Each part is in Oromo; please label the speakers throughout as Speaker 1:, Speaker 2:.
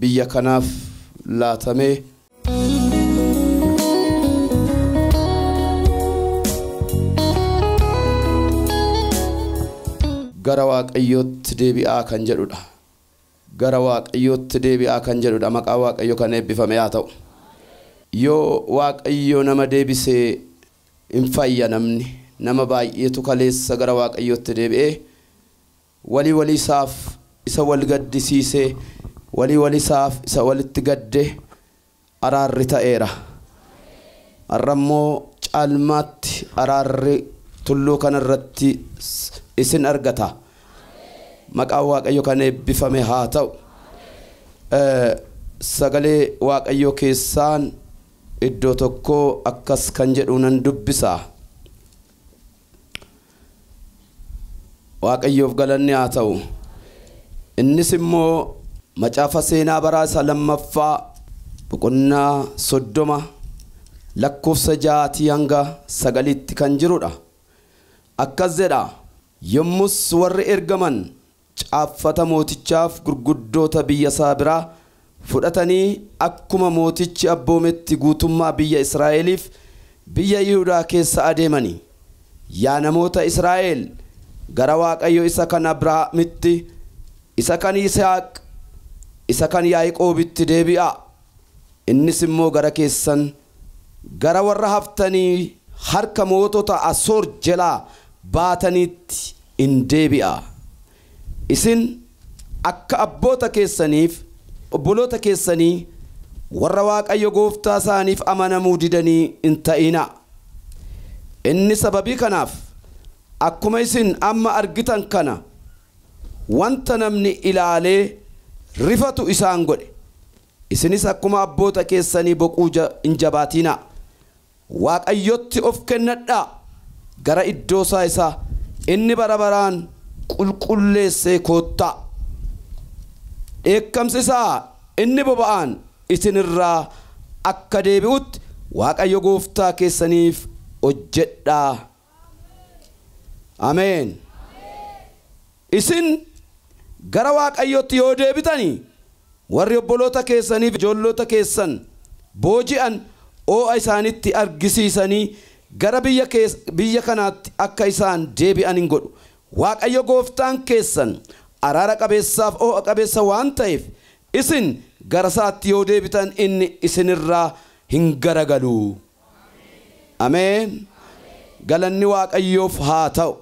Speaker 1: biyya kanaaf laatamee. gara waaqayyootti deebi'aa kan jedhudha. gara waaqayyootti deebi'aa kan jedhudha maqaa waaqayyo kan eebbifame haa ta'u. yoo waaqayyo nama deebisee hin fayya namni nama baay'eetu kaleessa gara waaqayyootti deebi'ee Wali wali isaaf isa wal gaddisiise, wali wali isaaf isa walitti gadde araarri ta'eera. Har'a immoo caalmaatti araarri tulluu kana irratti isin argata. Maqaan Waaqayyo kan eebbifame haa ta'u. Sagalee Waaqayyoo keessaan iddoo tokkoo akkas kan jedhu nan dubbisa. Waaqayyoof galanni haa ta'u. Innis immoo macaafa seenaa baraa isa lammaffaa boqonnaa soddoma lakkoofsa ja'aatii hanga sagaliitti kan jirudha. Akkas jedha, Yommus warri ergaman caaffata mootichaaf gurguddoota biyya isaa biraa fudhatanii akkuma mootichi abboometti guutummaa biyya Israa'eliif biyya Yihudaa keessa adeemanii, Yaa namoota Israa'el, gara Waaqayyo isa kan Abrahaamitti, isa kan Yisihaaq, isa kan Yaaqoobitti deebi'aa! Innis immoo gara keessan, gara warra haftanii harka mootota Asoor jelaa baataniitti in deebi'a. Isin akka abboota keessanii fi obboloota keessanii warra Waaqayyo gooftaa isaaniif amanamuu didanii hin ta'inaa. Inni sababii kanaaf akkuma isin amma argitan kana, Wanta namni ilaalee rifatu isaan godhe. Isinis akkuma abboota keessanii boquu hin jabaatiinaa. Waaqayyotti of kennadhaa, gara iddoo isaa isa inni bara baraan qulqulleessee koottaa. Dheekkamsi isaa inni boba'aan isin irraa akka deebi'utti Waaqayyo gooftaa keessaniif hojjedhaa. Ameen. Isin gara Waaqayyootti yoo deebitani, warri obboloota keessanii fi ijoollota keessan booji'an oo'a isaanitti argisiisanii gara biyya kees, biyya kanaatti akka isaan deebi'an in godhu. Waaqayyo gooftaan keessan araara qabeessaaf oo'a qabeessa waan ta'eef, isin gara isaatti yoo deebitan inni isin irraa hin garagalu. Ameen galanni waaqayyoof haa ta'u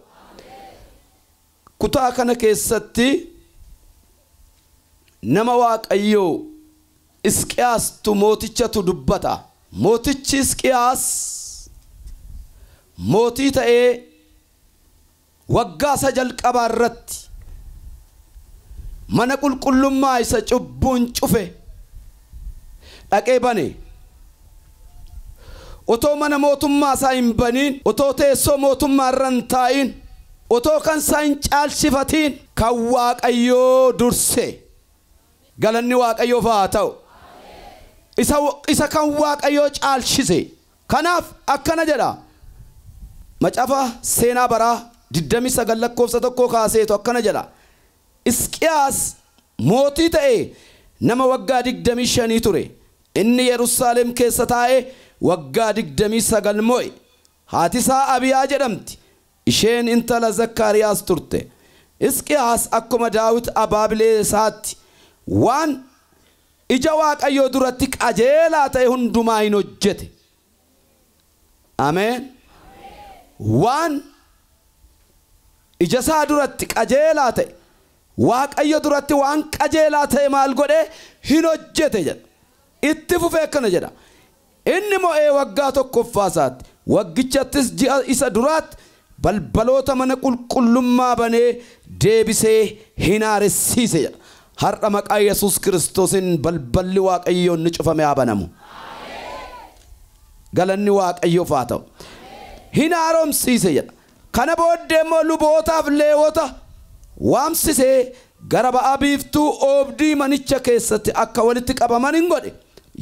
Speaker 1: kutaa kana keessatti nama waaqayyoo Isqiyaastuu mootichatu dubbata. Mootichi Isqiyaas mootii ta'ee Waggaa isa jalqabaa irratti mana qulqullummaa isa cubbuun cufe dhaqee bane. Otoo mana mootummaa isaa hin baniin, otoo teessoo mootummaa irra hin taa'iin, otoo kan isaa hin caalchifatiin kan Waaqayyoo durse. Galanni Waaqayyoof haa ta'u! Isa kan Waaqayyoo caalchise. Kanaaf akkana jedha Macaafa Seenaa Baraa 29 lakkoofsa 1 kaaseetu akkana jedha, Hisqiyaas mootii ta'ee nama waggaa 25 ture, inni Yerusaalem keessa taa'ee waggaa 29 mo'e, haati isaa Abiyaa jedhamti, isheen intala Zakkaariyaas turte. Hisqiyaas akkuma Daawit abaabilee isaatti waan. Ija Waaqayyoo duratti qajeelaa ta'e hundumaa in hojjete. Ameen. Waan ija isaa duratti qajeelaa ta'e, Waaqayyo duratti waan qajeelaa ta'e maal godhe? Hin hojjete jedha. Itti fufee akkana jedha. Inni mo'ee waggaa tokkoffaasaatti, waggichattis ji'a isa duraatti balbaloota mana qulqullummaa banee deebisee hin haaressiise jedha. Har'a maqaa Yesuus Kiristoosiin balballi Waaqayyoo inni cufame haa banamu. Galanni Waaqayyoof haa ta'u. Hin haaromsiise jedha. Kana booddee immoo lubootaaf Leewota waamsisee gara ba'a biiftuu oobdii manicha keessatti akka walitti qabaman in godhe.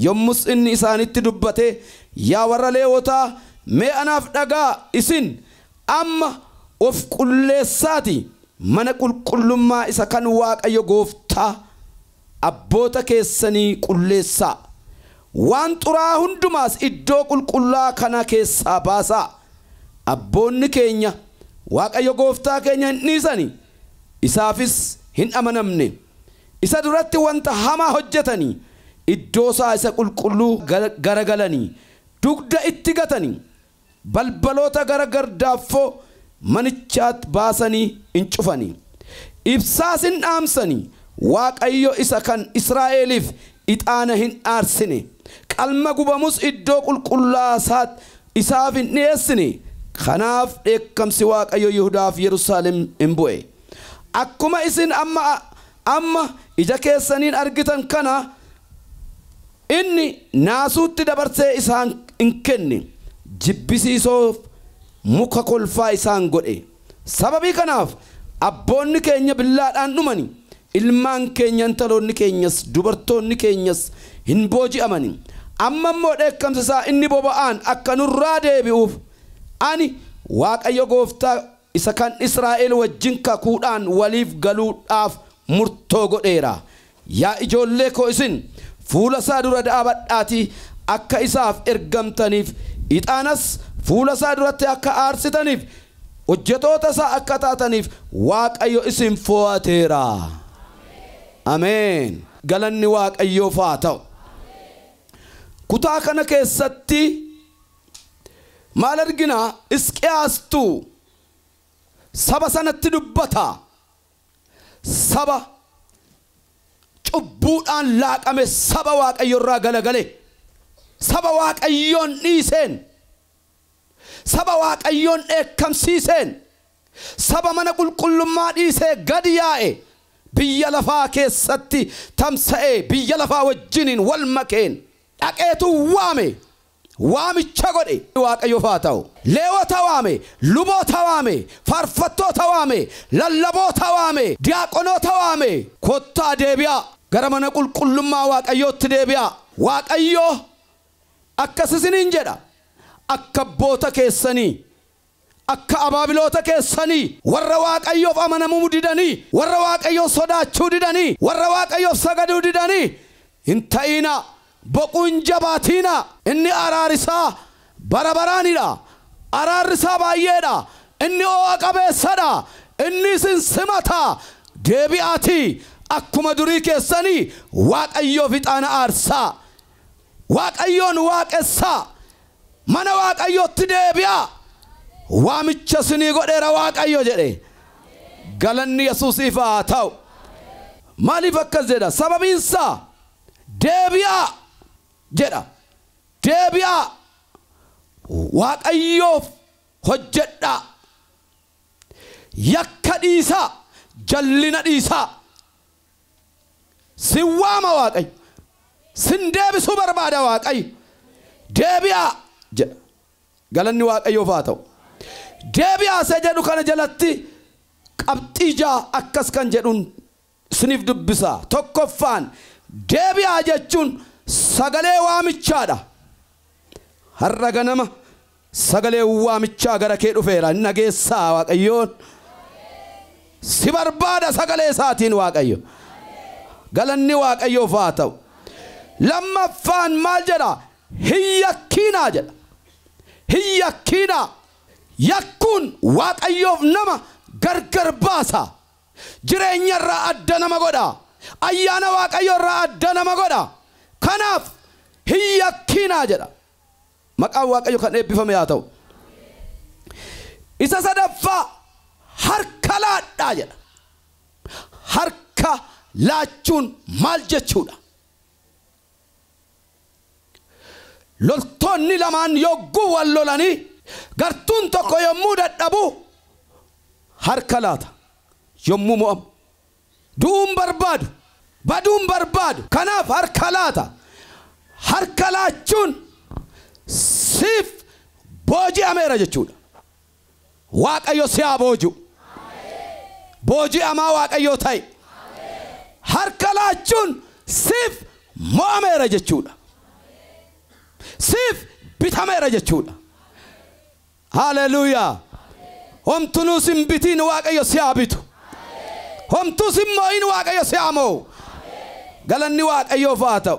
Speaker 1: Yommus inni isaanitti dubbatee, Yaa warra Leewotaa, mee anaaf dhaga'aa, isin amma of qulleessaatii mana qulqullummaa isa kan Waaqayyo gooftaa, Abboota keessanii qulleessaa, waan xuraa'aa hundumaas iddoo qulqullaa'aa kana keessaa baasaa, abboonni keenya Waaqayyo gooftaa keenya hin dhiisani, isaafis hin amanamne, isa duratti wanta hamaa hojjetani, iddoosaa isa qulqulluu garagalani, dugda itti gatani. Balbaloota gara gardaaffoo manichaat baasanii in cufani, ibsaas in dhaamsani, Waaqayyo isa kan Israa'eliif ixaana hin aarsine, qalma gubamus iddoo qulqullaa'aa saat isaaf hin dhi'eessine, kanaaf dheekkamsi Waaqayyo Yihudaa fi Yerusaalem in bu'e. Akkuma isin amma, amma ija keessaniin argitan kana, Inni naasuutti dabarsee isaan in kenne, jibbisiisoof muka kolfaa isaan godhe. Sababii kanaaf abboonni keenya billaadhaan dhumani, ilmaan keenya, intaloonni keenyas, dubartoonni keenyas in booji'amani. Amma immoo dheekkamsi isaa inni boba'aan akka nurraa deebi'uuf, ani Waaqayyo gooftaa isa kan Israa'el wajjin kakuudhaan waliif galuudhaaf murtoo godheera. Yaa ijoollee koo isin fuula isaa dura dhaabadhaatii akka isaaf ergamtaniif, ixaanas fuula isaa duratti akka aarsitaniif, hojjetoota isaa akka taataniif Waaqayyo isin fo'ateera. Ameen! Galanni Waaqayyoof haa ta'u! Kutaa kana keessatti. Maal argina? Hisqiyaastu saba sanatti dubbata. Saba cubbuudhaan laaqame, saba Waaqayyo irraa galagale, saba Waaqayyoon dhiiseen, saba Waaqayyoon dheekkamsiiseen, saba mana qulqullummaa dhiisee gad yaa'e, biyya lafaa keessatti tamsa'ee, biyya lafaa wajjiniin wal makeen dhaqeetu waame. waamicha godhe. Waaqayyoof haa ta'u! Leewota waame, luboota waame, faarfattoota waame, lallaboota waame, diyaaqonoota waame, Kottaa deebi'aa, gara mana qulqullummaa Waaqayyootti deebi'aa, Waaqayyo akkas isiniin jedha, Akka abboota keessanii akka abaabiloota keessanii, warra Waaqayyoof amanamuu didanii, warra Waaqayyoon sodaachuu didanii, warra Waaqayyoof sagaduu didanii hin ta'inaa, boquu hin jabaatiinaa. Inni araari isaa bara baraani dha, araarri isaa baay'ee dha, inni oo'a qabeessa dha, inni isin simata, deebi'aatii akkuma durii keessanii Waaqayyoof ixaana aarsaa. Waaqayyoon waaqessaa. Mana Waaqayyootti deebi'aa. Waamicha isinii godheera Waaqayyo jedhe. Galanni Yesuusiif haa ta'u. Maaliif akkas jedha? Sababiin isaa deebi'aa jedha. Deebi'aa Waaqayyoof hojjedhaa. Yakka dhiisaa, jallina dhiisaa. Sin waama Waaqayyo. Sin deebisuu barbaada Waaqayyo. Deebi'aa! jedha. Galanni Waaqayyoof haa ta'u. Deebi'aa isa jedhu kana jalatti qabxii ja'a akkas kan jedhun isiniif dubbisa. Tokkoffaan, deebi'aa jechuun sagalee waamichaa dha. Har'a ganama sagaleen waamichaa gara kee dhufeera hin dhageessaa Waaqayyoon si barbaada sagalee isaatiin Waaqayyo. Galanni Waaqayyoof haa ta'u. Lammaffaan maal jedha? Hin yakkiinaa jedha. Hin yakkiinaa. Yakkuun Waaqayyoof nama gargar baasa. Jireenya irraa adda nama godha. Ayyaana Waaqayyoo irraa adda nama godha. Kanaaf hin yakkiinaa jedha. Maqaan Waaqayyoo kan eebbifame haa ta'u. Isa sadaffaa harka laadhaa jedha. Harka laachuun maal jechuudha? Loltoonni lamaan yogguu wal lolanii gartuun tokko yommuu dadhabu harka laata. Yommuu mo'amu du'uu hin barbaadu, baduu hin barbaadu. Kanaaf harka laata. Harka laachuun siif booji'ameera jechuudha. Waaqayyo si haa booji'u. Booji'amaa Waaqayyoo ta'i. Harka laachuun siif mo'ameera jechuudha. Siif bitameera jechuudha. Haleluuyaa! Homtunuu sin bitiin Waaqayyo si haa bitu. Homtuu sin mo'iin Waaqayyo si haa mo'u. Galanni Waaqayyoof haa ta'u.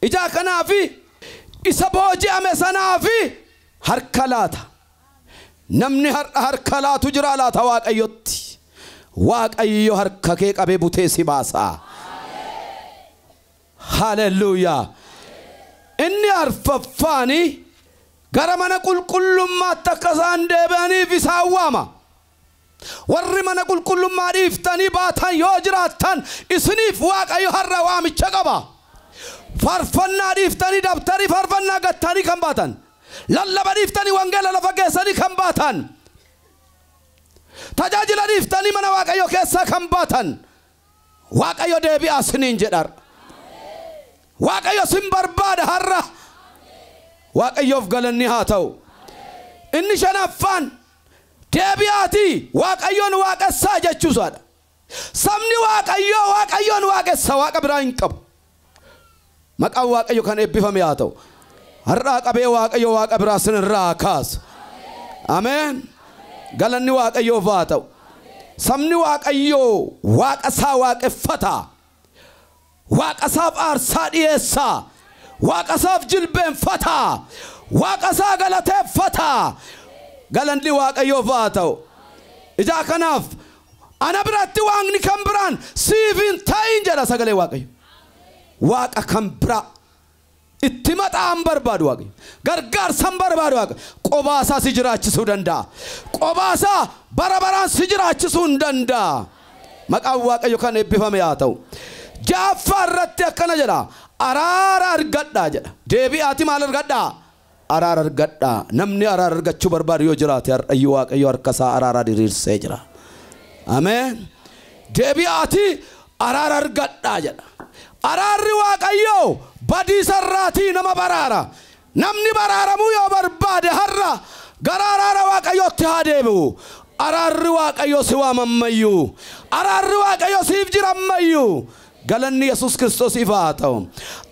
Speaker 1: Ijaa kanaafi isa booji'ame sanaafi Harka laata. Namni har'a harka laatu jiraa laata Waaqayyotti? Waaqayyo harka kee qabee butee si baasa. Haalelluuyaa! Inni arfaffaani gara mana qulqullummaatti akka isaan deebi'aniif isaan waama. Warri mana qulqullummaa dhiiftanii baatan yoo jiraattan isiniif Waaqayyo har'a waamicha qaba. Faarfannaa dhiiftanii dabtarii faarfannaa gattanii kan baatan, lallaba dhiiftanii wangeela lafa geessanii kan baatan, tajaajila dhiiftanii mana Waaqayyoo keessaa kan baatan Waaqayyo deebi'aa isiniin jedha har'a. Waaqayyo isin barbaada har'a. Waaqayyoof galanni haa ta'u. Inni shanaffaan Deebi'aatii, Waaqayyoon waaqessaa jechuu isaa dha. Sabni Waaqayyoo Waaqayyoon waaqessa, waaqa biraa hin qabu. Maqaan Waaqayyo kan eebbifame haa ta'u. Har'aa qabee Waaqayyo waaqa biraa sin irraa haa kaasu. Ameen. Galanni Waaqayyoof haa ta'u. Sabni Waaqayyoo waaqa isaa waaqeffata. Waaqasaaf aarsaa dhiyeessa. Waaqasaaf jilbeenfata. Waaqasaa galateeffata. Galanni Waaqayyoof haa ta'u. Ijaa kanaaf ana biratti waaqni kan biraan siif hin ta'iin jedha sagalee Waaqayyo. Waaqa kan biraa Itti maxaa hin barbaadu Waaqayyo. Gargaarsa hin barbaadu Waaqayyo. Qobaasaa si jiraachisuu danda'a. Qobaasaa bara baraan si jiraachisuu hin danda'a. Maqaan Waaqayyo kan eebbifame haa ta'u. Ja'affaa irratti akkana jedha. Araara argadhaa jedha. Deebi'aati maal argadhaa? Araara argadhaa. Namni araara argachuu barbaadu yoo jiraate har'ayyuu Waaqayyo harka isaa araaraa diriirsee jira. Ameen. Deebi'aatii araara argadhaa jedha. Araarri Waaqayyoo badiisa irraatii nama baraara. Namni baraaramuu yoo barbaade har'a gara araara Waaqayyootti haa deebi'u. Araarri Waaqayyoo si waama ammayyuu. Araarri Waaqayyoo siif jira ammayyuu. Galanni Yesuus Kiristoosiif haa ta'u.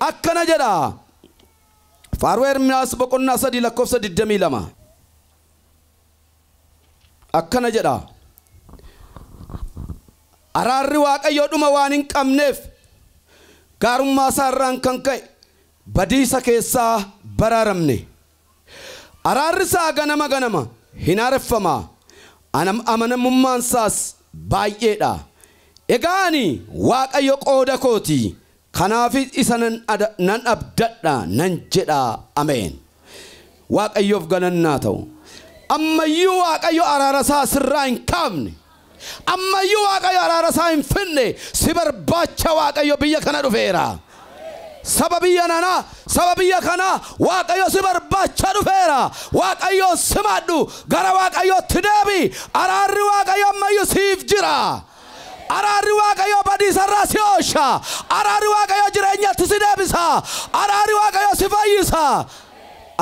Speaker 1: Akkana jedha. Faaruu Ermiyaas boqonnaa 3 lakkoofsa 22 akkana jedha. Araarri Waaqayyoo dhuma waan hin qabneef gaarummaa isaa irraan kan ka'e badiisa keessaa baraaramne. Araarri isaa ganama ganama hin haareffama, amanamummaan isaas baay'eedha. Egaa ani Waaqayyo qooda kooti, Kanaafis isa nan ada, nan abdadha, nan jedha. Ameen! Waaqayyoof galanni haa ta'u. Amma iyyuu Waaqayyo araara isaa sirraa hin kaafne. Amma iyyuu Waaqayyo araara isaa hin fidne. Si barbaacha Waaqayyo biyya kana dhufeera. Saba biyya nanaa, saba biyya kanaa Waaqayyo si barbaacha dhufeera. Waaqayyoon simaadhu, gara Waaqayyootti deebi. Araarri Waaqayyo amma iyyuu siif jira. Araarri Waaqayyoo badiisa irraa si oolcha. Araarri Waaqayyoo jireenyatti si deebisa. Araarri Waaqayyoo si fayyisa.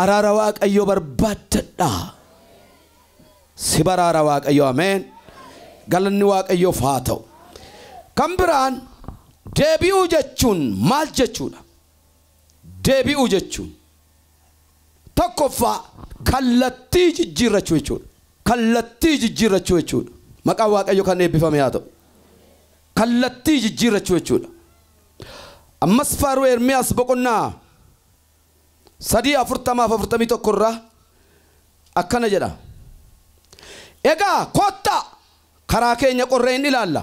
Speaker 1: Araara Waaqayyoo barbaaddadha. Si baraara Waaqayyoo ameen. Galanni Waaqayyoof haa ta'u. Kan biraan deebi'uu jechuun maal jechuudha? Deebi'uu jechuun Tokkoffaa, kallattii jijjiirrachuu jechuudha. Kallattii jijjiirrachuu jechuudha. Maqaan Waaqayyoo kan eebbifame haa ta'u. Kallattii jijjiirrachuu jechuudha. Ammas faaruu Ermiyaas boqonnaa 3 40 fi 41 irraa akkana jedha. Egaa kottaa karaa keenya qorree in ilaalla,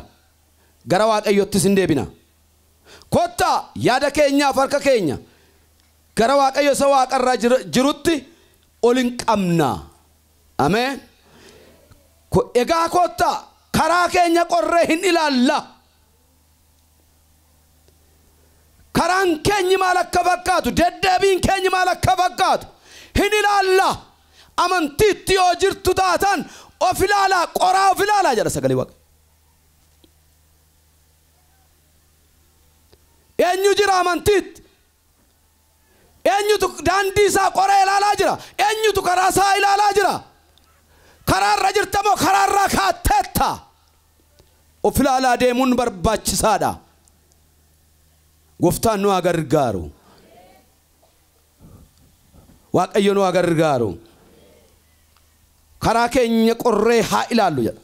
Speaker 1: gara Waaqayyoottis in deebina. Kottaa, yaada keenyaa fi harka keenya gara Waaqayyo isa waaqa irraa jirutti ol in qabnaa. Ameen. Egaa kottaa, karaa keenya qorree hin ilaallaa. Karaan keenyi maal akka fakkaatu, deddeebiin keenyi maal akka fakkaatu hin ilaallaa. Amantiitti yoo jirtu taataan of ilaalaa, qoraa of ilaalaa jedha sagalee Waaqayyo. Eenyu jira amantiitti? Eenyutu daandii isaa qoree ilaalaa jira? Eenyutu karaa isaa ilaalaa jira? Karaa irra jirta moo karaa irraa kaatteetta? Of ilaalaa deemuun barbaachisaadha. Gooftaan nu haa gargaaru. Waaqayyo nu haa gargaaru. Karaa keenya qorree haa ilaallu jedha.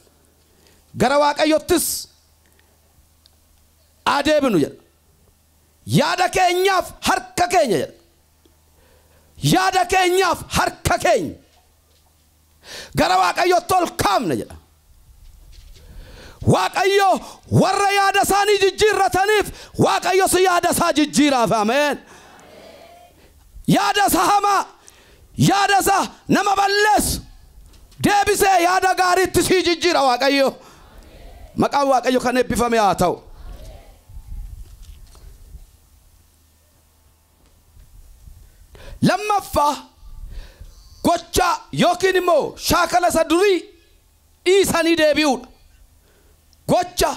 Speaker 1: Gara Waaqayyottis haa deebinu jedha. Yaada keenyaaf harka keenya jedha. Yaada keenyaaf harka keenya. gara Waaqayyootti ol kaafna jedha. Waaqayyo warra yaada isaanii jijjiirrataniif Waaqayyos yaada isaa jijjiiraaf ameen. Yaada isa hamaa yaada isa nama balleessu deebisee yaada gaariitti sii jijjiira Waaqayyo. Maqaan Waaqayyo kan eebbifame haa ta'u. Lammaffaa, gochaa ykn immoo shaakala isa durii dhiisanii deebi'uudha. Gocha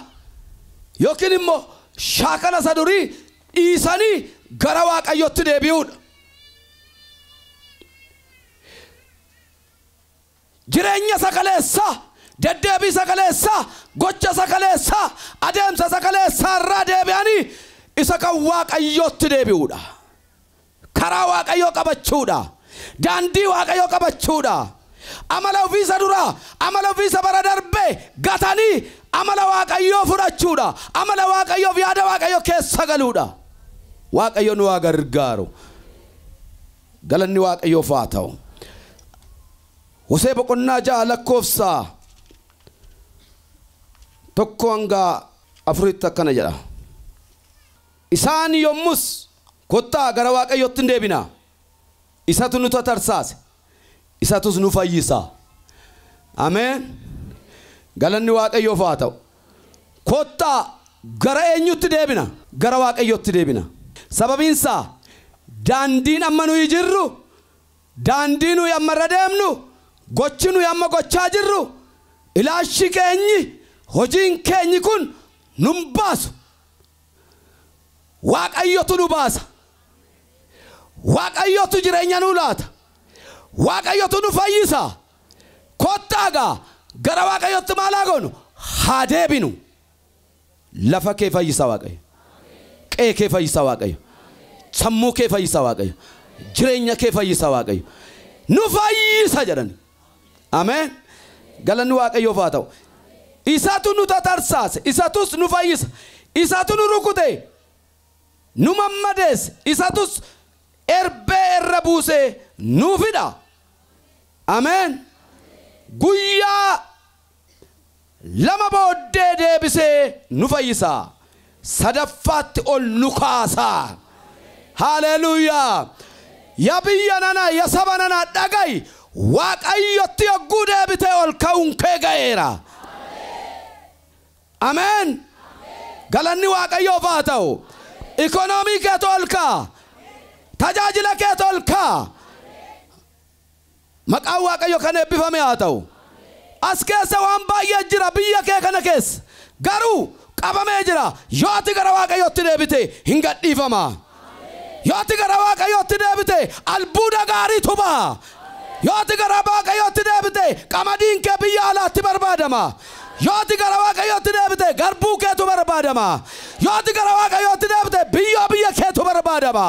Speaker 1: ykn immoo shaakala isa durii dhiisanii gara Waaqayyootti deebi'uudha. Jireenya isa kaleessaa, deddeebii isa kaleessaa, gocha isa kaleessaa, adeemsa isa kaleessaa irraa deebi'anii isa kan Waaqayyootti deebi'uudha. Karaa Waaqayyoo qabachuudha. Daandii Waaqayyoo qabachuudha. Amala ofii isa duraa, amala ofii isa bara darbee gatanii amala Waaqayyoo fudhachuudha. Amala Waaqayyoof yaada Waaqayyoo keessa galuudha. Waaqayyo nu haa gargaaru. Galanni Waaqayyoof haa ta'u. Hosee boqonnaa 6 lakkoofsa 1-4tti akkana jedha. Isaan yommus, Kottaa gara Waaqayyootti in deebinaa, isatu nu tatarsaase, isatus nu fayyisa. Ameen! Galanni Waaqayyoof haa ta'u. Kottaa, gara eenyutti deebina? Gara Waaqayyootti deebina. Sababiin isaa, daandiin amma nuyi jirru, daandii nuyi amma irra deemnu, gochi nuyi amma gochaa jirru, ilaalchi keenyi, hojiin keenyi kun nu hin baasu. Waaqayyotu nu baasa. Waaqayyotu jireenya nuu laata. Waaqayyotu nu fayyisa. Kottaa gaa gara waaqayyotti maal haa goonu? Haa deebinu. Lafa kee fayyisa waaqayyo. Qe'ee kee fayyisa waaqayyo. Sammuu kee fayyisa waaqayyo. Jireenya kee fayyisa waaqayyo. Nu fayyisa jedhani. Ameen. Galanni waaqayyoof haa ta'u. Isatu nu tatarsaase, isatus nu fayyisa. Isatu nu rukute, nu mammadeesse, isatus erbee irra buusee nuuf hidha. Ameen! Guyyaa lama booddee deebisee nu fayyisa. Sadaffaatti ol nu kaasa. Haaleeluuyaa! Ya biyya nana, ya saba nana dhaga'i! Waaqayyotti yogguu deebitee ol ka'uun kee ga'eera. Ameen! Galanni Waaqayyoof haa ta'u! Economy keetu ol ka'a! Tajaajila keetu ol ka'a! Maqaan Waaqayyo kan eebbifame haa ta'u! As keessa waan baay'ee jira biyya kee kana keessa. Garuu qabamee jira. Yoo ati gara Waaqayyootti deebite hin gadhiifama. Yoo ati gara Waaqayyootti deebite albuuda gaariitu baha. Yoo ati gara Waaqayyootti deebite qamadiin kee biyya alaatti barbaadama. Yoo ati gara Waaqayyootti deebite garbuu keetu barbaadama. Yoo ati gara Waaqayyootti deebite biyyoo biyya keetu barbaadama.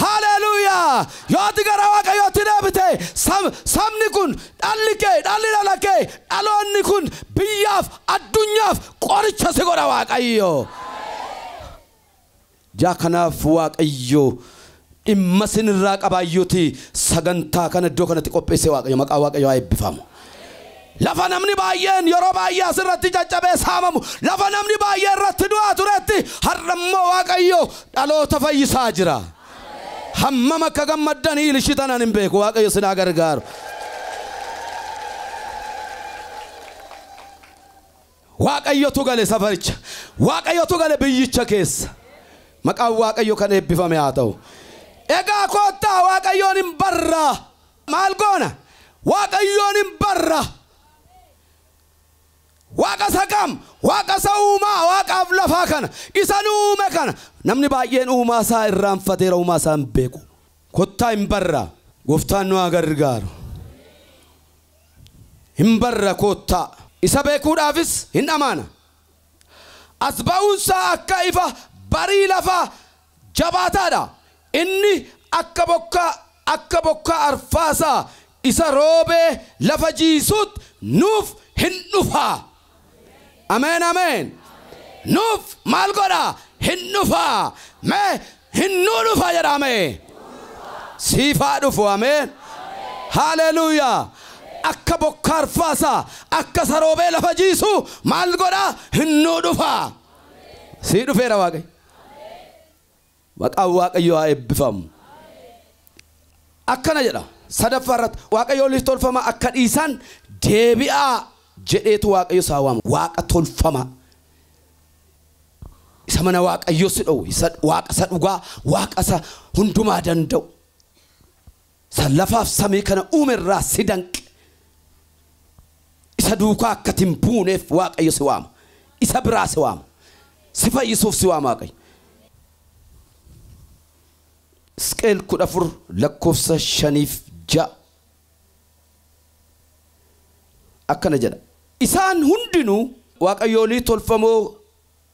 Speaker 1: Haleeluuyaa! Yoo ati gara Waaqayyootti deebite sab- sabni kun dhalli kee dhalli dhala kee dhaloonni kun biyyaaf addunyaaf qoricha si godha Waaqayyo. Yaa kanaaf waaqayyo dhimma sin irraa qabaayyuti sagantaa kana iddoo kanatti qopheesse waaqayyo maqaa waaqayyo haa eebbifaamu. Lafa namni baay'een yeroo baay'ee asirratti caccabee saamamu lafa namni baay'ee irratti du'aa turetti har'a immoo waaqayyo dhaloota fayyisaa jira. Hammam akka gammaddan hiilishitan ani hin beeku waaqayyo sin haa gargaaru. Waaqayyotu gale safaricha. Waaqayyotu gale biyyicha keessa. Maqaan Waaqayyo kan eebbifame haa ta'u. Egaa koottaa Waaqayyoon hin barra. Maal goona? Waaqayyoon hin barra. Waaqa isa kam? Waaqa isa uumaa waaqaaf lafaa kana, isa nu uume kana. Namni baay'een uumaa isaa irraanfateera, uumaa isaa hin beeku. Kottaa hin barra. Gooftaan nu haa gargaaru. hin barra koottaa. Isa beekuudhaafis hin dhamaana. As ba'uunsaa akka ifa barii lafaa jabaataadha. Inni akka bokkaa akka bokkaa arfaasaa isa roobee lafa jiisuutt nuuf hin dhufa. Ameen ameen nuuf maal godha hin dhufa mee hin nuu dhufa jedha mee siif haa dhufu ameen haaleluuyaa akka bokkaa arfaasaa akka saroobee lafa jiisu maal godha hin nuu dhufa sii dhufeera waaqayyo. Maqaan Waaqayyoo haa eebbifamu. Akkana jedha sadaffaa irratti Waaqayyo oliif tolfamaa akka dhiisaan deebi'aa jedheetu Waaqayyo isaa waama. Waaqa tolfamaa isa mana Waaqayyoo si dhowwe, isa Waaqa isa dhugaa, Waaqa isa hundumaa danda'u. Isa lafaaf samii kana uume irraa si danqe, isa duukaa akka ati hin buuneef Waaqayyo si waama. Isa biraa si waama. Si fayyisuuf si waama Waaqayyo. Hisqeel 14 lakkoofsa 5 fi 6 akkana jedha. Isaan hundinuu waaqayyoolii tolfamoo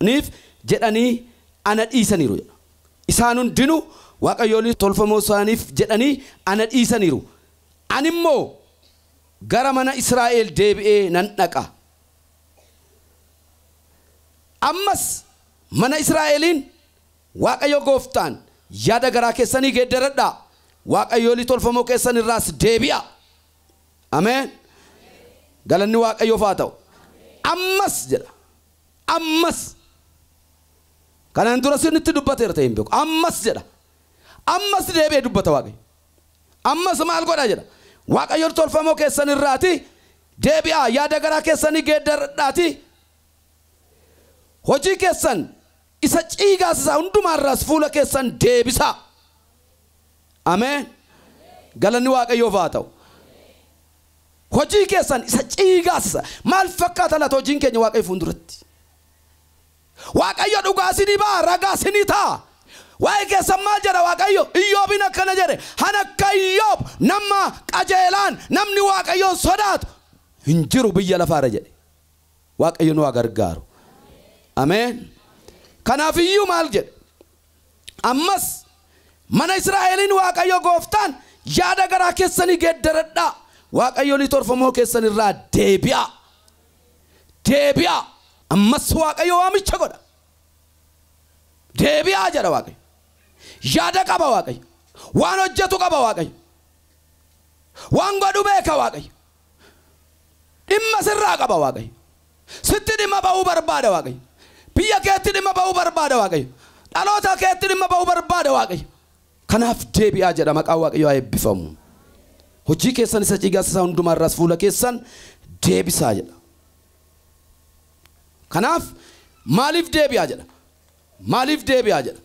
Speaker 1: isaaniif jedhanii ana dhiisaniiru jedha. Isaan hundinuu waaqayyolii tolfamoo isaaniif jedhanii ana dhiisaniiru, ani immoo gara mana Israa'el deebi'ee nan dhaqa. Ammas mana Israa'eliin, Waaqayyo gooftaan, Yaada garaa keessanii geeddaradhaa, waaqayyolii tolfamoo keessan irraas deebi'aa! Ameen! Galanni Waaqayyoof haa ta'u! Ammas jedha. Ammas, kanaan duras isinitti dubbateera ta'ee hin beeku. Ammas jedha. Ammas deebi'ee dubbata Waaqayyo. Ammas maal godha jedha. Waaqayyoon tolfamoo keessan irraati deebi'aa yaada garaa keessanii geeddaradhaatii hojii keessan isa ciigaasisaa hundumaa irraas fuula keessan deebisaa. Ameen. Galanni Waaqayyoof haa ta'u. Hojii keessan isa ciigaassa maal fakkaata laata hojiin keenya Waaqayyo fuulduratti? Waaqayyo dhugaa isinii ba'a, ragaa isinii ta'a. Waa'ee keessan maal jedha Waaqayyo? Iyyoobiin akkana jedhe, An akka Iyyoob nama qajeelaan, namni Waaqayyoon sodaatu hin jiru biyya lafaa irra jedhe. Waaqayyo nu haa gargaaru. Ameen. Kanaaf iyyuu maal jedhe? Ammas, mana Israa'eliin Waaqayyo gooftaan, Yaada garaa keessanii geeddaradhaa, waaqayyolii torfamoo keessan irraa deebi'aa! Deebi'aa! Ammas Waaqayyo waamicha godha. Deebi'aa jedha Waaqayyo. Yaada qaba Waaqayyo. Waan hojjetu qaba Waaqayyo. Waan godhu beeka Waaqayyo. Dhimma sirraa qaba Waaqayyo. Sitti dhimma ba'uu barbaada Waaqayyo. Biyya keetti dhimma ba'uu barbaada Waaqayyo. Dhaloota keetti dhimma ba'uu barbaada Waaqayyo. Kanaaf deebi'aa jedha maqaan Waaqayyo haa eebbifamu. Hojii keessan isa ciigasisaa hundumaa irraas fuula keessan deebisaa jedha. Kanaaf maaliif deebi'aa jedha? Maaliif deebi'aa jedha?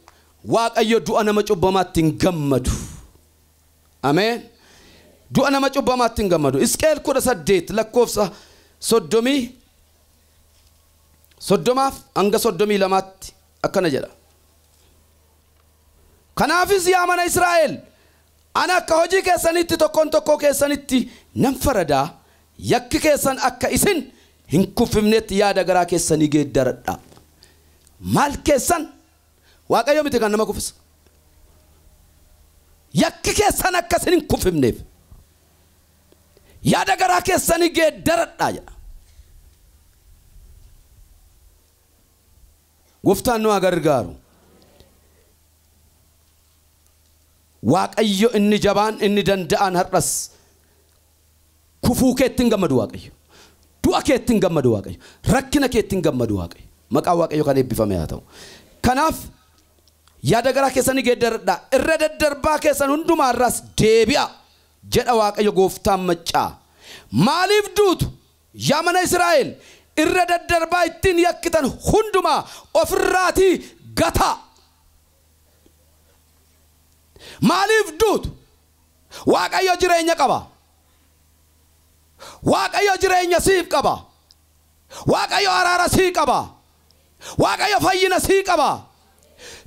Speaker 1: Waaqayyo du'a nama cubbamaatti hin gammadu. Ameen. Du'a nama cubbamaatti hin gammadu. Isqeel 18 lakkoofsa 30 soddomaaf hanga 32tti akkana jedha. Kanaafis yaa mana Israa'el ana akka hojii keessaniitti tokkoon tokkoo keessanitti nan faradaa yakki keessan akka isin hin kuffifnetti yaada garaa keessanii geeddaradhaa. Maal keessan Waaqayyo miti kan nama kuffisu. Yakki keessan akka isin hin kuffifneef yaada garaa keessanii geeddaradhaa jedha. Gooftaan nu haa gargaaru. Waaqayyo inni jabaan inni danda'aan har'as Kufuu keetti hin gammadu Waaqayyo. Du'a keetti hin gammadu Waaqayyo. Rakkina keetti hin gammadu Waaqayyo. Maqaan Waaqayyo kan eebbifame haa ta'u. Kanaaf yaada garaa keessanii geeddaradhaa. Irra daddarbaa keessan hundumaa irraas deebi'aa jedha Waaqayyo gooftaan maccaa. Maaliif duutu? Yaa mana Israa'el irra daddarbaa ittiin yakkitan hundumaa of irraatii gataa. Maaliif duutu? Waaqayyo jireenya qaba. Waaqayyo jireenya siif qaba. Waaqayyo araara sii qaba. Waaqayyo fayyina sii qaba.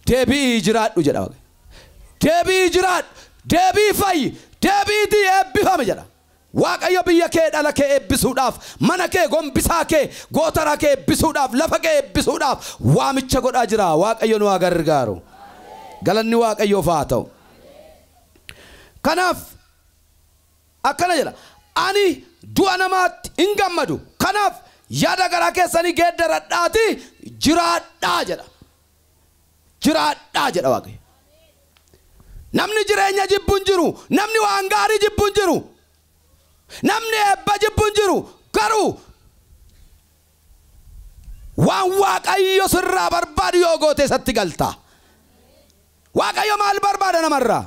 Speaker 1: Deebi'ii jiraadhu jedha Waaqayyo. Deebi'ii jiraadhu, deebi'ii fayyi, deebi'iitii eebbifami jedha. Waaqayyo biyya kee dhala kee eebbisuudhaaf, mana kee, gombisaa kee, gootaraa kee eebbisuudhaaf, lafa kee eebbisuudhaaf waamicha godhaa jira. Waaqayyo nu haa gargaaru. Galanni Waaqayyoof haa ta'u. Kanaaf akkana jedha, Ani du'a namaatti hin gammadu. Kanaaf yaada garaa keessanii geeddaradhaatii jiraadhaa jedha. jiraadhaa jedha Waaqayyo. Namni jireenya jibbu hin jiru, namni waan gaarii jibbu hin jiru, namni eebba jibbu hin jiru, garuu waan Waaqayyo sirraa barbaadu yoo goote isatti galta. Waaqayyo maal barbaada namarraa?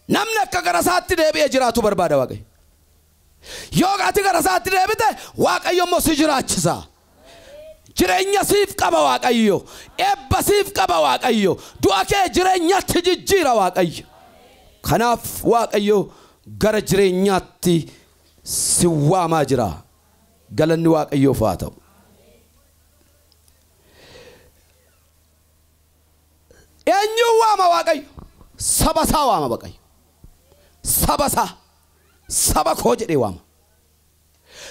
Speaker 1: Namni akka gara isaatti deebi'ee jiraatu barbaada Waaqayyo. Yoo ati gara isaatti deebite Waaqayyo immoo si jiraachisa. Jireenya siif qaba Waaqayyo. Eebba siif qaba Waaqayyo. Du'a kee jireenyatti jijjiira Waaqayyo. Kanaaf Waaqayyo gara jireenyaatti si waamaa jira. Galanni Waaqayyoof haa ta'u. Eenyuun waama Waaqayyo? Saba isaa waama Waaqayyo. Saba isaa, saba koo jedhee waama.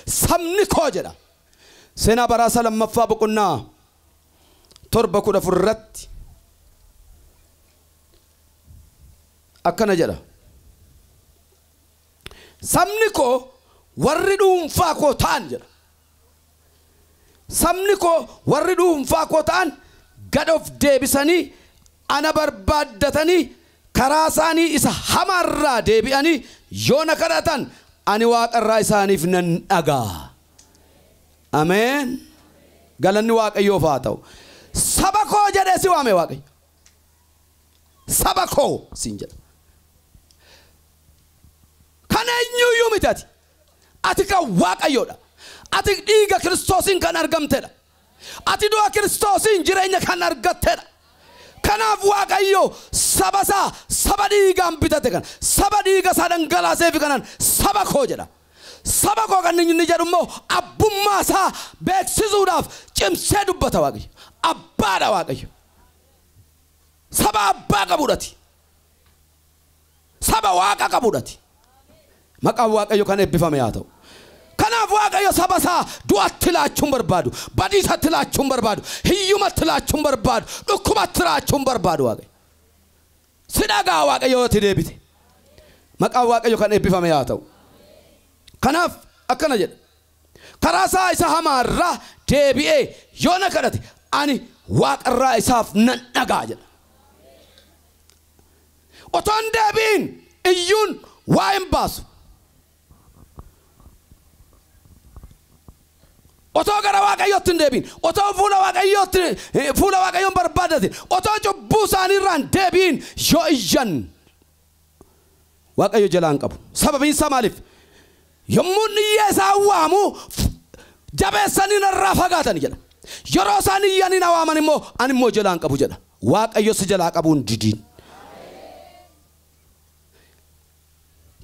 Speaker 1: Sabni koo jedha. Seenaa baraa isaa lammaffaa boqonnaa torba kudha afur irratti akkana jedha. Sabni koo warri dhuunfaa koo ta'an jedha. Sabni koo warri dhuunfaa koo ta'an gad of deebisanii ana barbaaddatanii karaa isaanii isa hamaa irraa deebi'anii yoo na kadhatan ani waaqa irraa isaaniif nan dhaga'a. Ameen! Galanni Waaqayyoof haa ta'u. Saba koo jedhee si waame Waaqayyo. Saba koo siin jedha. Kan eenyuuyyuu miti ati. Ati kan Waaqayyoo dha. Ati dhiiga Kiristoosiin kan argamte dha. Ati du'a Kiristoosiin jireenya kan argatte dha. Kanaaf Waaqayyo saba isaa saba dhiigaan bitate kana, saba dhiiga isaa dhangalaaseefi kanaan saba koo jedha. Saba koo kan inni jedhu immoo abbummaa isaa beeksisuudhaaf cimsee dubbata Waaqayyo. Abbaa dha Waaqayyo. Saba abbaa qabu dha ati. Saba Waaqa qabudha ati. Maqaan Waaqayyo kan eebbifame haa ta'u. Kanaaf Waaqayyo saba isaa du'atti laachuu hin barbaadu, badiisatti laachuu hin barbaadu, hiyyumatti laachuu hin barbaadu, dhukkubatti laachuu hin barbaadu Waaqayyo. Si dhaga'a Waaqayyo yoo ati deebite. Maqaan Waaqayyo kan eebbifame haa ta'u. Kanaaf akkana jedha. Karaa isaa isa hamaa irraa deebi'ee yoo na kadhate ani waaqa irraa isaaf nan dhaga'a jedha. Otoo hin deebi'in iyyuun waa hin baasu. Otoo gara Waaqayyootti hin deebi'in, otoo fuula Waaqayyootti eh, fuula Waaqayyoon barbaadatin, otoo cubbuu isaanii irraa hin deebi'in yoo iyyan Waaqayyo jalaa hin qabu. Sababiin isaa maaliif? Yommuu inni iyyee isaan waamu jabeessanii narraa fagaatan jedha. Yeroo isaan iyyanii na waaman immoo ani immoo jalaa hin qabu jedha. Waaqayyo si jalaa qabuu hin didiin.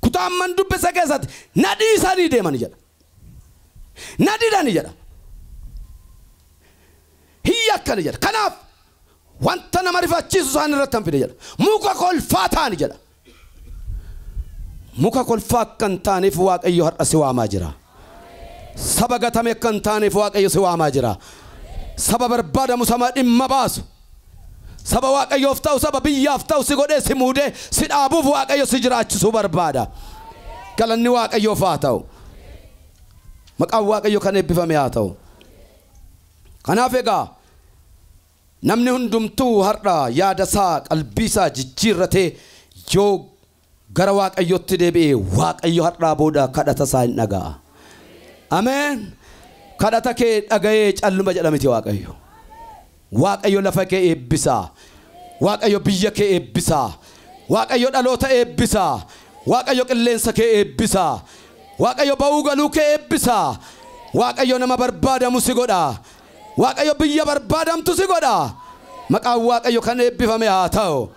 Speaker 1: Kutaa amman dubbise keessatti na dhiisanii deeman jedha. Na didani jedha. Hin yakkani jedha. Kanaaf wanta nama rifachiisu isaan irratti hin fide jedha. Muka kolfaa ta'ani jedha. Muka kolfaa akka hin taaneef Waaqayyo har'a si waamaa jira. Saba gatame akka hin taaneef Waaqayyo si waamaa jira. Saba barbaadamu, saba dhimma baasu, saba Waaqayyoof ta'u, saba biyyaaf ta'u si godhee si muudee si dhaabuuf Waaqayyo si jiraachisuu barbaada. Galanni Waaqayyoof haa ta'u. Maqaan Waaqayyo kan eebbifame haa ta'u. Kanaaf egaa Namni hundumtuu har'a yaadasaa, qalbiisaa jijjiirratee yoo gara Waaqayyootti deebi'e, Waaqayyo har'aa booda kadhatasaa in dhaga'a. Ameen! Kadhata kee dhaga'ee calluma jedha miti Waaqayyo. Waaqayyo lafa kee eebbisa. Waaqayyo biyya kee eebbisa. Waaqayyo dhaloota eebbisa. Waaqayyo qilleensa kee eebbisa. Waaqayyo ba'uu galuu kee eebbisa. Waaqayyo nama barbaadamu si godha. Waaqayyo biyya barbaadamtu si godha. Maqaan Waaqayyo kan eebbifame haa ta'u.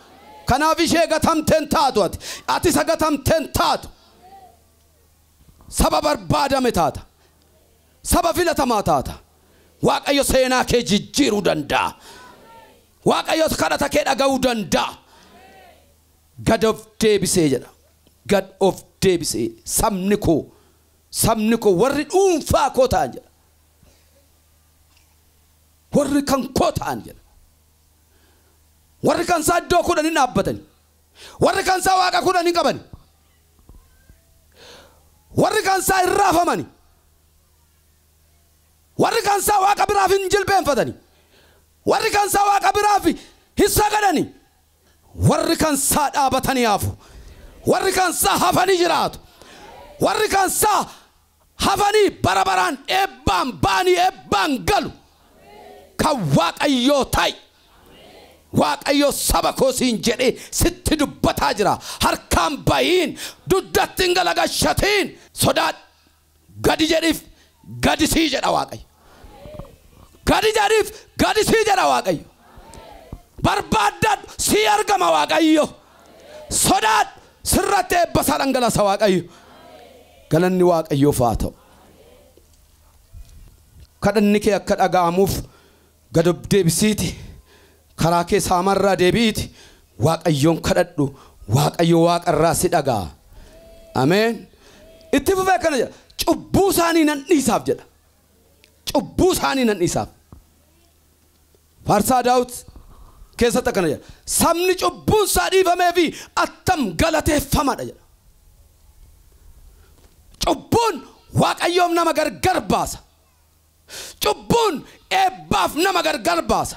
Speaker 1: Kanaaf ishee gatamte hin taatu ati. Ati isa gatamte hin taatu. Saba barbaadame taata. Saba filatamaa taata. Waaqayyo seenaa kee jijjiiruu danda'a. Waaqayyo kadhata kee dhaga'uu danda'a. Gad of deebisee jedha. Gad of deebisee sabni koo sabni koo warri dhuunfaa koo ta'an jedha. Warri kan koo ta'an jedha. Warri kan isaa iddoo kudhan hin dhaabbatani. Warri kan isaa waaqa kudhan hin qabani. Warri kan isaa hin raafamani. Warri kan isaa waaqa biraaf hin jilbeenfatani. Warri kan isaa waaqa biraaf hin sagadani. Warri kan isaa dhaabatanii hafu. Warri kan isaa hafanii jiraatu. Warri kan isaa hafanii bara baraan eebbaan ba'anii eebbaan galu kan waaqayyoo ta'i waaqayyo saba koo siin jedhee sitti dubbataa jira harkaan bahiin dugdatti hin galagashatiin sodaadhu gadi jedhiif gadi sii jedha waaqayyo. Gadi jedhiif gadi sii jedha Waaqayyo. Barbaaddadhu sii argama Waaqayyo. Sodaadhu sirratti eebba isaa dhangalasa Waaqayyo. Galanni Waaqayyoof haa ta'u. Kadhanni kee akka dhaga'amuuf gad of deebisiiti karaa kee saamarraa deebi'iiti Waaqayyoon kadhadhu Waaqayyo waaqarraa si dhaga'a. Ameen. Itti fufee akkana jedha. Cubbuu isaanii nan dhiisaaf jedha. cubbuu isaanii nan dhiisaaf. Faarsaa Daawit keessatti akkana jedha. Sabni cubbuun isaa dhiifamee fi attam galateeffamadha jedha. Cubbuun Waaqayyoof nama gargar baasa. Cubbuun eebbaaf nama gargar baasa.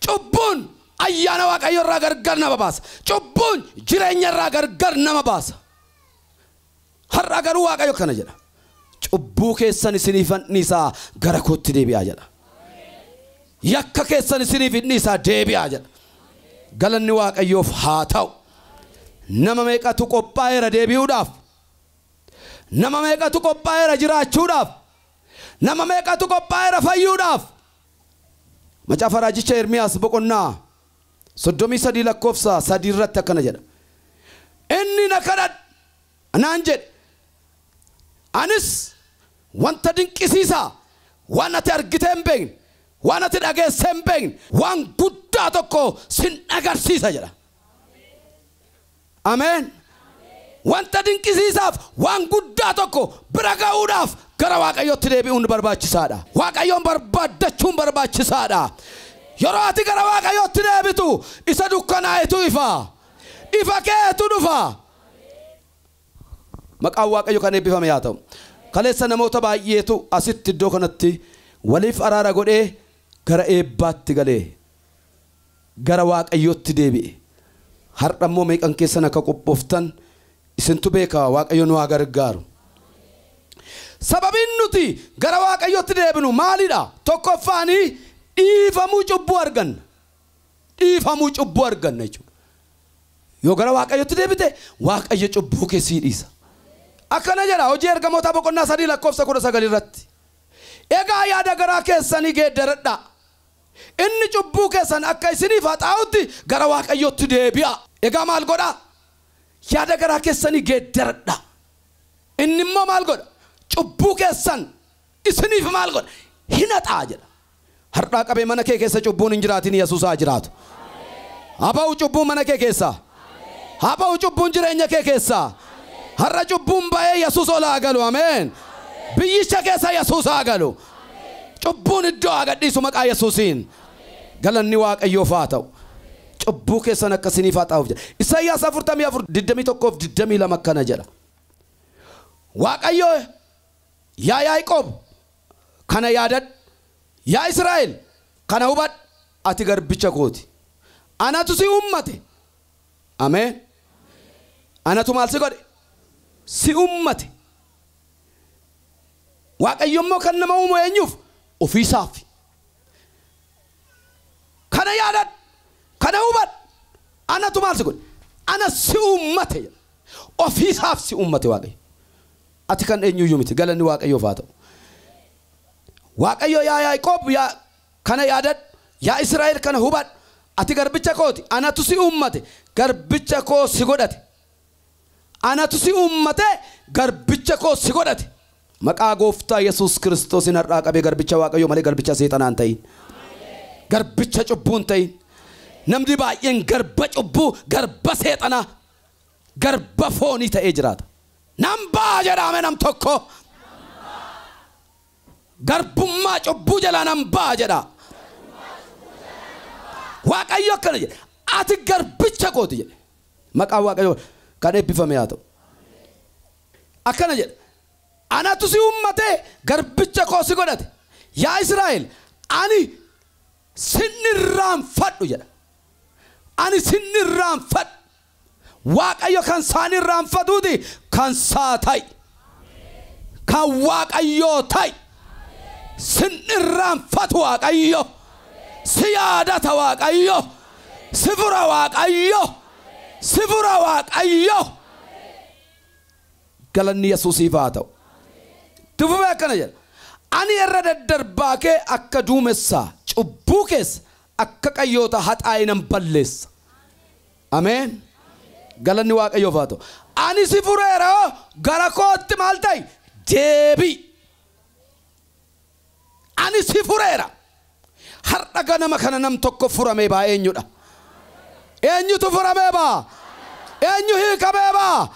Speaker 1: Cubbuun ayyaana Waaqayyo irraa gargar nama baasa. Cubbuun jireenya irraa gargar nama baasa. Har'a garuu Waaqayyo akkana jedha, Cubbuu keessan isiniifan dhiisa, gara kootti deebi'aa jedha. Yakka keessan isiniif hin dhiisa, deebi'aa jedha. Galanni Waaqayyoof haa ta'u. Nama meeqatu qophaa'eera deebi'uudhaaf? Nama meeqatu qophaa'eera jiraachuudhaaf? Nama meeqatu qophaa'eera fayyuudhaaf? Macaafa raajicha Ermiyaas boqonnaa 33 lakkoofsa 3 irratti akkana jedha. Inni na kadhadhu anaan jedhe. Anis wanta dinqisiisaa waan ati argitee hin beekne, waan ati dhageessee hin beekne, waan guddaa tokko sin agarsiisa jedha. Ameen! Wanta dinqisiisaaf, waan guddaa tokko bira ga'uudhaaf gara Waaqayyootti deebi'uun barbaachisaa dha. Waaqayyoon barbaaddachuun barbaachisaa dha. Yeroo ati gara Waaqayyootti deebitu, isa dukkanaa'etu ifa. Ifa keetu dhufa. Maqaan Waaqayyo kan eebbifame yaa ta'u. Kaleessa namoota baay'eetu asitti iddoo kanatti waliif araara godhee gara eebbaatti gale. gara waaqayyootti deebi'e. Har'a immoo meeqan keessan akka qophooftan isintu beeka waaqayyo nu haa gargaaru. Sababiin nuti gara waaqayyootti deebinu maalidha? Tokkoffaan dhiifamuu cubbuu arganna. Dhiifamuu cubbuu arganna jechuudha. Yoo gara waaqayyootti deebite waaqayyo cubbuu kee sii dhiisa. Akkana jedha hojii ergamootaa boqonnaa sadii lakkoofsa kudha sagal irratti. Egaa yaada garaa keessanii geeddaradhaa. Inni cubbuu keessan akka isiniif haxaa'utti gara Waaqayyootti deebi'aa. Egaa maal godhaa? Yaada garaa keessanii geeddaradhaa. Inni immoo maal godha? Cubbuu keessan isiniif maal godha? Hin haxaa'a jedha. Har'aa qabee mana kee keessa cubbuun hin jiraatin Yesuus haa jiraatu. Haa ba'u cubbuun mana kee keessaa. Haa ba'u cubbuun jireenya kee keessaa. Har'a cubbuun ba'ee Yesuus ol haa galu. Ameen. Biyyicha keessa Yesuus haa galu. Cubbuun iddoo haa gadhiisu maqaa Yesuusiin. Galanni Waaqayyoof haa ta'u. Cubbuu keessan akka isiniif haxaa'uuf jedha. Isaayyaas 44, 21 fi 22 akkana jedha. Waaqayyo Yaa Yaaqoob, kana yaadadhu, yaa Israa'el, kana hubadhu, ati garbicha koo ti. Anatu si uummate. Ameen. Anatu maal si godhe? Si uummate. Waaqayyo immoo kan nama uumu eenyuuf? Ofii isaaf. Kana yaadadhu, kana hubadhu, anatu maal si godhe? Ana si uummate jedha. Ofii isaaf si uummate Waaqayyo. Ati kan eenyuyyuu miti. Galanni Waaqayyoof haa ta'u. Waaqayyo yaa Yaaqoob yaa kana yaadadhu, yaa Israa'el kana hubadhu, ati garbicha koo ti, anatu si uummate, garbicha koos si godhate. Anatu si uummate, garbicha koos si godhate. Maqaa Gooftaa Yesuus Kiristoosiin har'aa qabee garbicha Waaqayyoo malee garbicha seexanaa hin ta'iin. Garbicha cubbuu hin ta'iin. Namni baay'een garba cubbuu, garba seexanaa. garba foonii ta'ee jiraata. Nan ba'a jedhaa mee nam tokko. Garbummaa cubbuu jalaa nan ba'a jedhaa. Waaqayyo akkana jedhe, ati garbicha kooti jedhe. Maqaan Waaqayyoo kan eebbifame haa ta'u. Akkana jedhe, anatu si uummatee garbicha koo si godhate. Yaa Israa'el, ani sin irraanfadhu jedha. Ani sin irraanfadhu. Waaqayyo kan isaa hin irraanfatuuti kan isaa ta'i. Kan Waaqayyoo ta'i. Sin irraanfatu Waaqayyo. Si yaadata Waaqayyo. Si fura Waaqayyo. Si fura Waaqayyo. Galanni Yesuusiif haa ta'u. Itti fufee akkana jedha. Ani irra daddarbaa kee akka duumessaa, cubbuu kees akka qayyoota haxaa'ee nan balleessa. Ameen. Galanni Waaqayyoof haa ta'u. Ani si fureera gara kootti maal ta'i? Deebi'i. Ani si fureera. Har'a ganama kana nam tokko furamee baa eenyudha? Eenyutu furamee baa? Eenyu hiikamee baa?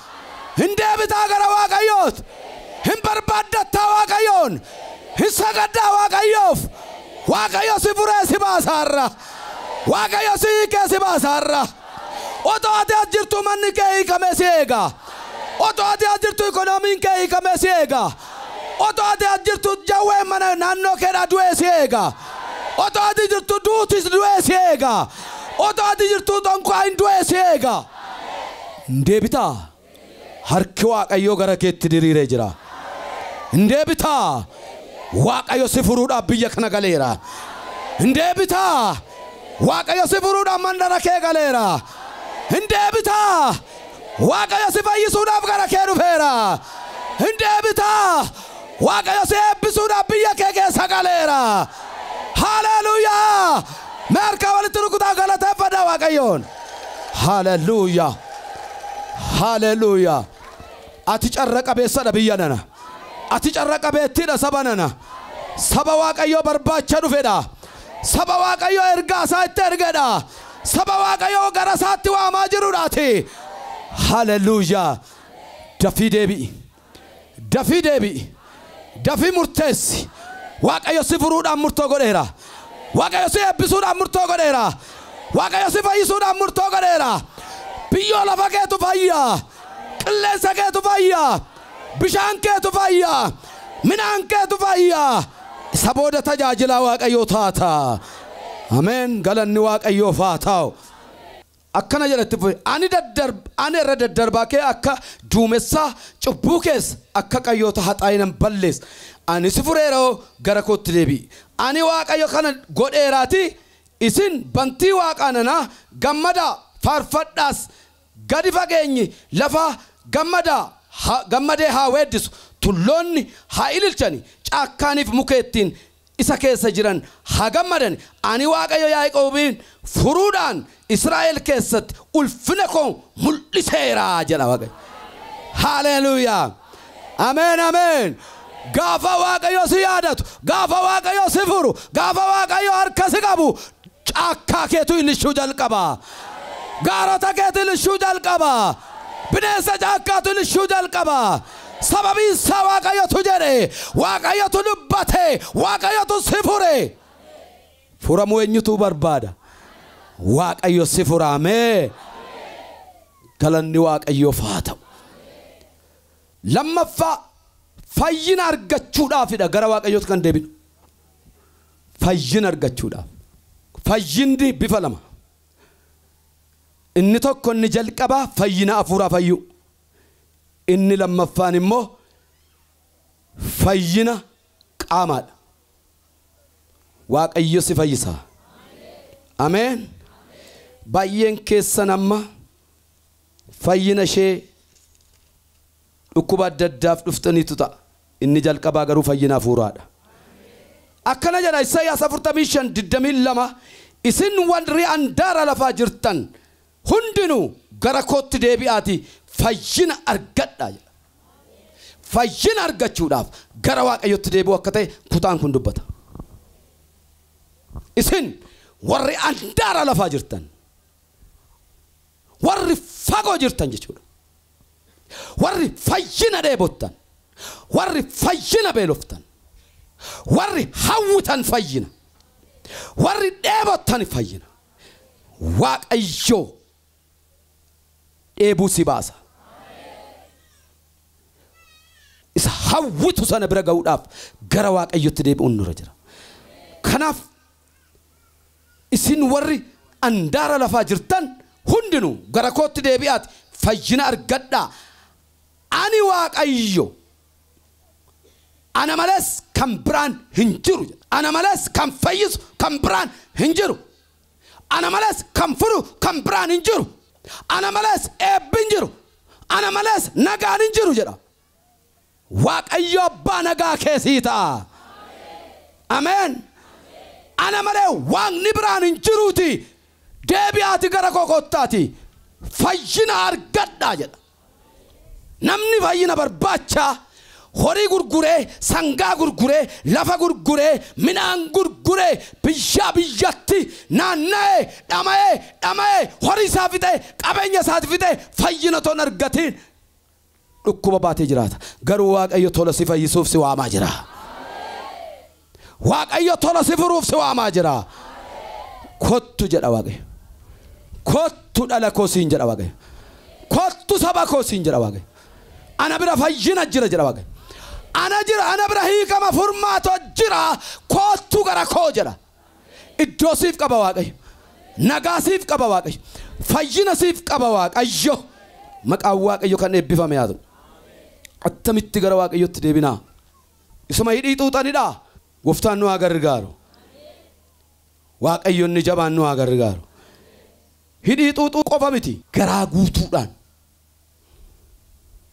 Speaker 1: Hin deebitaa gara Waaqayyoot. Hin barbaaddattaa Waaqayyoon. Hin sagaddaa Waaqayyoof. Waaqayyo si furee si baasa har'a. Waaqayyo si hiikee si baasa har'a. Otoo ati as jirtuu manni kee hiikamee si eega. Otoo ati as jirtuu ikoonomiin kee hiikamee si eega. Otoo ati as jirtuu jawween mana naannoo keedhaa du'ee si eega. Otoo ati jirtuu duutis du'ee si eega. Otoo ati jirtuu xonqaayin du'ee si eega. Hin deebitaa? Harki Waaqayyoo gara keetti diriiree jira. Hin deebitaa? Waaqayyo si furuudhaaf biyya kana galeera. Hin deebitaa? Waaqayyo si furuudhaaf mandara kee galeera. Hin deebitaa? Waaqayyo si fayyisuudhaaf gara kee dhufeera. Hin deebitaa? Waaqayyo si eebbisuudhaaf biyya kee keessa galeera. Haaleeluuyaa! Mee harkaa walitti rukutaa galateeffadhaa Waaqayyoon. Haleluya. Haleluya. Ati carra qabeessadha biyya nana. Ati carra qabeettiidha saba nana. Saba Waaqayyoo barbaacha dhufedha. Saba Waaqayyoo ergaa isaa itti ergedha. Saba Waaqayyoo gara isaatti waamaa jirudha ati. Haleluya. Dafii deebi'i. Dafii deebi'i. Dafii murteessi. Waaqayyo si furuudhaan murtoo godheera. Waaqayyo si eebbisuudhaan murtoo godheera. Waaqayyo si fayyisuudhaan murtoo godheera. Biyyoo lafa keetu fayya. Qilleensa keetu fayya. Bishaan keetu fayya. Midhaan keetu fayya. Isa booda tajaajilaa Waaqayyoo taata. Ameen galanni Waaqayyoof haa ta'u. Akkana jedha itti fufee, Ani daddarb, ani irra daddarbaa kee akka duumessaa, cubbuu kees akka qayyoota haxaa'ee nan balleessa. Ani si fureera'oo, gara kootti deebi'i. Ani Waaqayyo kana godheeraatii, isin bantii waaqaa nanaa, gammadaa, faarfadhaas! Gadi fageenyi lafaa gammadaa, ha, gammadee haa weeddisu, tulloonni haa ililchani, caakkaaniif mukeettiin isa keessa jiran haa gammadan, ani Waaqayyo Yaaqoobiin furuudhaan Israa'el keessatti ulfina koo mul'iseera jedha Waaqayyo. Haaleeluuyaa! Ameen ameen! Gaafa Waaqayyo si yaadatu, gaafa Waaqayyo si furu, gaafa Waaqayyo harka si qabu Caakkaa keetu ilishuu jalqaba. Gaarota keetu ilishuu jalqaba. Bineensa caakkaatu ilishuu jalqaba. Sababiin isaa Waaqayyotu jedhe, Waaqayyotu dubbate, Waaqayyotu si fure. Furamuu eenyutu barbaada? Waaqayyo si fura. Ameen. Galanni Waaqayyoof haa ta'u. Lammaffaa fayyina argachuudhaafidha gara Waaqayyootti kan deebinu. Fayyina argachuudhaaf. Fayyinni bifa lama. Inni tokko inni jalqabaa fayyina afuuraa fayyuu. Inni lammaffaan immoo fayyina qaamaadha. Waaqayyo si fayyisaa. Ameen. Baay'een keessan amma fayyina ishee Dhukkuba adda addaaf dhuftaniitu ta'a. Inni jalqabaa garuu fayyina hafuuraa dha. Akkana jedha Isayyaas 45, 22, Isin warri andaara lafaa jirtan hundinuu gara kootti deebi'aatii fayyina argadhaa jedha. Fayyina argachuudhaaf gara Waaqayyootti deebi'uu akka ta'e kutaan kun dubbata. Isin warri andaara lafaa jirtan. Warri fagoo jirtan jechuudha. Warri fayyina dheebottan, warri fayyina beeloftan, warri hawwitan fayyina, warri dheebottan fayyina, Waaqayyo dheebuu si baasa. Isa hawwitu sana bira ga'uudhaaf gara Waaqayyotti deebi'uun nurra jira. Kanaaf Isin warri andaara lafaa jirtan hundinuu gara kootti deebi'aatii fayyina argadhaa, ani Waaqayyo, ana malees kan biraan hin jiru jedha. Ana malees kan fayyisu kan biraan hin jiru. Ana malees kan furu kan biraan hin jiru. Ana malees eebbi hin jiru. Ana malees nagaan hin jiru jedha Waaqayyo abbaa nagaa kee sii ta'a. Ameen. Ana malee waaqni biraan hin jiruutii deebi'aati gara koo kottaatii fayyina argadhaa jedha. Namni fayyina barbaacha horii gurguree, sangaa gurguree, lafa gurguree, midhaan gurguree, biyyaa biyyatti naanna'ee, dhama'ee, dhama'ee, horii isaa fixee, qabeenya isaati fixee fayyina otoo hin argatiin Dhukkuba baatee jiraata. Garuu Waaqayyo tola si fayyisuuf si waamaa jira. Waaqayyo tola si furuuf si waamaa jira. Kottu jedha Waaqayyo. Kottu dhala koo siin jedha Waaqayyo. Kottu saba koo siin jedha Waaqayyo. Ana bira fayyina jira jedha Waaqayyo. Ana jira ana bira hiikama furmaata jira. Kottu gara koo jedha. Iddoo siif qaba Waaqayyo. Nagaa siif qaba Waaqayyo. Fayyina siif qaba Waaqayyo. Maqaan Waaqayyo kan eebbifame haa ta'u. Attamitti gara Waaqayyootti deebinaa? Isuma hidhii xuuxanidhaa? Gooftaan nu haa gargaaru. Waaqayyo inni jabaan nu haa gargaaru. Hidhii xuuxuu qofa miti. Garaa guutuudhaan.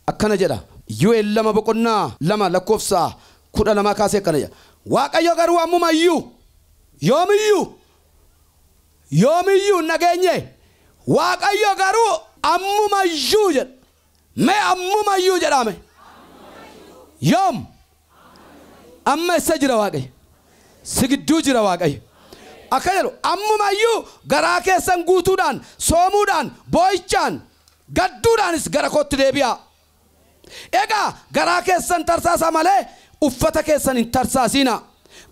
Speaker 1: akkana jedha, Yoel 2 boqonnaa 2 lakkoofsa 12 kaasee akkana jedha, Waaqayyo garuu ammuma iyyuu, yoom iyyuu, yoom iyyuu hin dhageenye, Waaqayyo garuu ammuma iyyuu jedha, mee ammuma iyyuu jedhaa mee, yoom, Amma essa jira Waaqayyo? Si gidduu jira Waaqayyo. Akka jedhu ammuma iyyuu garaa keessan guutuudhaan, soomuudhaan, boo'ichaan, gadduudhaanis gara kootti deebi'aa. Egaa garaa keessan tarsaasaa malee uffata keessan hin tarsaasiinaa.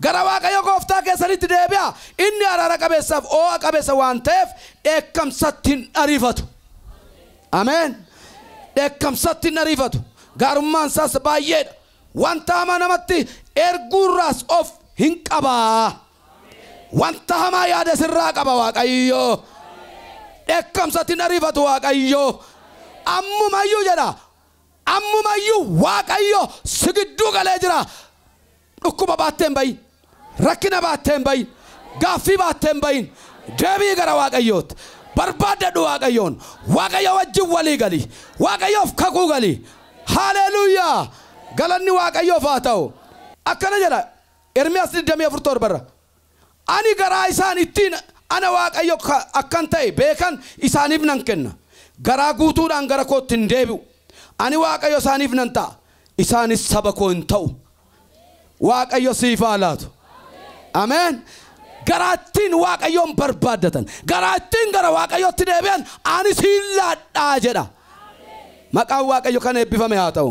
Speaker 1: Gara Waaqayyo gooftaa keessaniitti deebi'aa, inni araara qabeessaaf oo'a qabeessa waan ta'eef dheekkamsatti hin ariifatu. Ameen! Dheekkamsatti hin ariifatu, gaarummaan isaas baay'ee dha, wanta hamaa namatti erguu irraas of hin qaba. Wanta hamaa yaada sirraa qaba Waaqayyo. Dheekkamsatti hin ariifatu Waaqayyo. Ammumayyuu jedha, ammumayyuu Waaqayyo si gidduu galee jira. Dhukkuba baattee hin ba'iin. Rakkina baattee hin ba'iin. Gaaffii baattee hin ba'iin. Deebi'i gara Waaqayyootti. Barbaaddadhu Waaqayyoon. Waaqayyo wajjin walii gali. Waaqayyoof kakuu gali. Haaleeluuyaa! Galanni Waaqayyoof haa ta'u. Akkana jedha Ermiyaas 24:7 irra. Ani garaa isaan ittiin ana Waaqayyo akkan ta'e beekan isaaniif nan kenna, garaa guutuudhaan gara kootti in deebi'u, ani Waaqayyo isaaniif nan ta'a, isaanis saba koo in ta'u. Waaqayyo siif haa laatu. Ameen. Garaa ittiin Waaqayyoon barbaaddatan, garaa ittiin gara Waaqayyootti deebi'an ani siin laadhaa jedha. Maqaan Waaqayyo kan eebbifame haa ta'u.